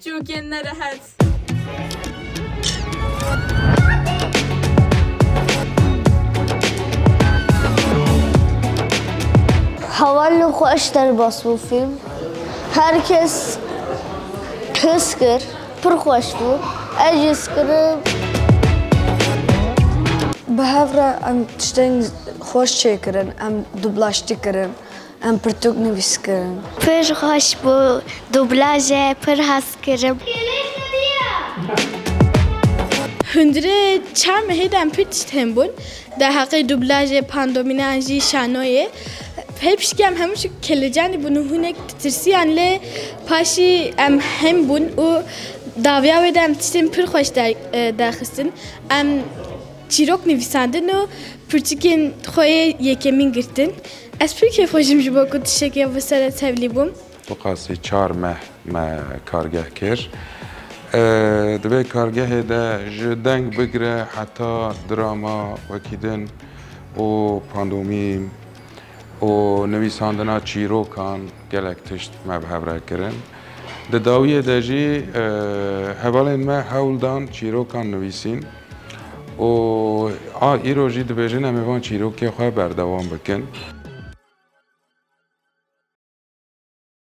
Çûkên nerehet. Heval li xwe eş derbas bû fîlm. Her kes his kir, pir xweş bû. Ez jî skirim. Bi hev re em tiştên xweş çêkirin, em dublajtî kirin. Em pirtûk nivîs kirin. Pir xweş bû dûblaje pir hez kirim. Hundirê çem hê dem pir tişt hên bûn da heqê dûblajê pandomineyan jî şanoyê pê piştgem hemû şi kelecanî bûn û hûnek ditirsiyan lê paşî em hên bûn û daviya wê de em tiştên pir xweş derxistin em Çîrok nivîsandin û pirtûkên xwe yê yekemîn girtin. Ez pir kêfxweş im ji bo ku tiştekê bi ser e tevlî bûm. Tu qasî çar meh me kargeh kir. Divê kargehê de ji deng bigire heta drama wekî din û pandomîm û nivîsandina çîrokan gelek tişt me bi hev re kirin. Di dawiyê de jî hevalên me hewl dan çîrokan nivîsîn. Û a îro jî dibêjin em ê van çîrokê xwe berdewam bikin.